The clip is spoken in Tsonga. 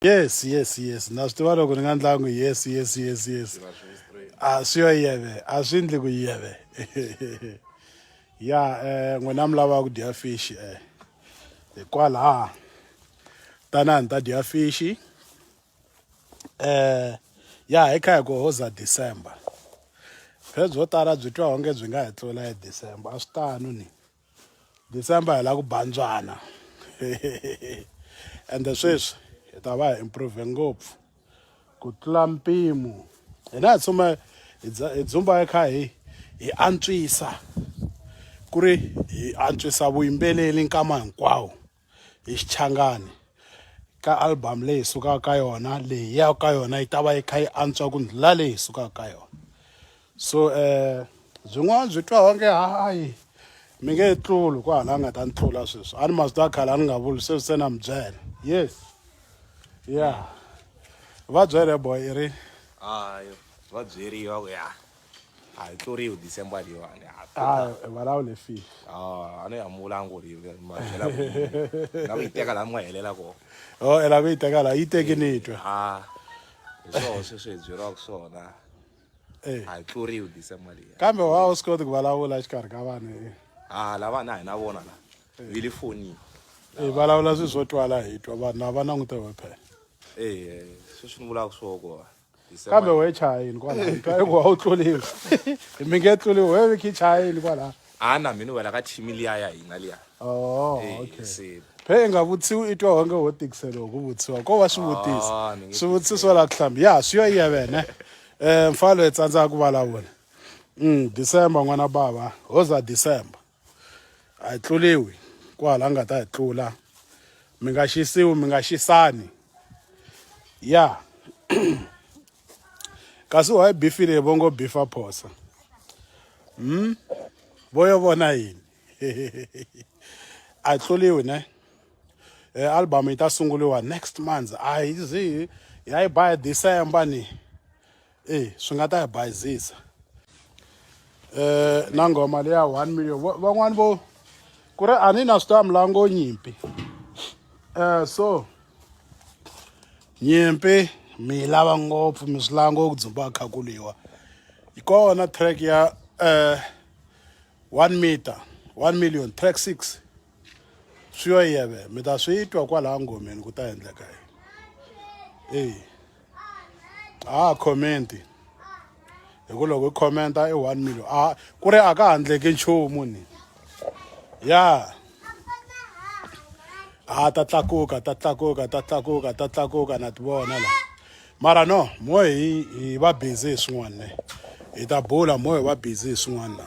yes yes yes na swi tiva loko ni nga ndlangi yes yes yes yes a swi yo yeve a swi ndli ku yeve ya um n'wina mi lavaka ku dya fishi um eh. hikwalaha tanani ta dya fishi um ya hi kha hi ku hoza december phezwi byo tala byi twa onge byi nga hi tlula hi december a swi tano ni December hi la ku bandzwana ende sweswi hi ta va hi improve ngopfu ku tlula mpimo hina hi tshuma hi dzumba hi kha hi hi antswisa ku ri hi antswisa vuyimbeleri nkama hinkwawo hi Xichangani ka album leyi hi sukaka ka yona leyi ya ka yona yi ta va yi kha yi antswa ku ndlula leyi hi sukaka ka yona so um byin'wana byi twa onge hayi mi nge tluli ku hala nga ta ni tlula sweswi a ni ma swi twa khale a ni nga vuli sweswi se na mi byela yes ya va byele boy i ri hayi va byeriwa ku ya a hi tluriwi december leyiwani ha Ah, eh, valavo le file Ah, a no yamula a ngo ri ma byela ku yini. na ku yi teka laha mi nga helela kona o ela ku yi teka la yi teki ni twa a hi swona sweswi hi byeriwaka swona Eh, a hi tluriwi december leyi kambe wa u swi koti ku vulavula exikarhi ka vanhu eh. a lavana a hi na vona la vi le fonini Eh, vulavula swilo swo twala hi twa vanhu a va langute wephela e sweswi ni vulaka swo kona kambe we chayini kwalaha twa eku a wu tluriwi mi nge tluriwi we viki chayini kwalaha a na mina wela ka team liya ya hina liya oh Eh, okay se- phe i nga vutsiwi i twa onge wo tikiseliwa ku vutsiwa ko va Ah, swivutisa ni nge swivutiso la ku hlamba ya swi yo iya vene um mfalo hi tsandzaka ku vulavula um december n'wana bava hoza december a hi tluliwi kwahala nga ta hi tlula mi nga xisiwi mi nga xisani ya kasi wa yi bifile vo ngo bifa phosa hmm? vo yo vona yini a hi tluliwi ne e album yi ta sunguliwa next month a yi zi ya yi ba hi december ni eyi swi nga ta hi bayizisa um na nghoma leya one million van'wani vo ku ri a ni na swi ta milango nyimpi um so nyimpi mi yi lava ngopfu mi swi lango ku dzumba khakuliwa yi kona track ya um One meter, one million, track six. Swi yo yeve, mi ta swi twa kwalaha ngomeni ku ta endleka yini. Eyi, a ha comment-i. Hi ku loko i comment-a i one million. A ku ri a ka ha endleki nchumu ni. Ya. A ta tlakuka, ta tlakuka, ta tlakuka, ta tlakuka na ti vona la. mara no mohe hi hi va busy hi swin'wana ne hi ta bula mohe hi va busy hi swin'wana na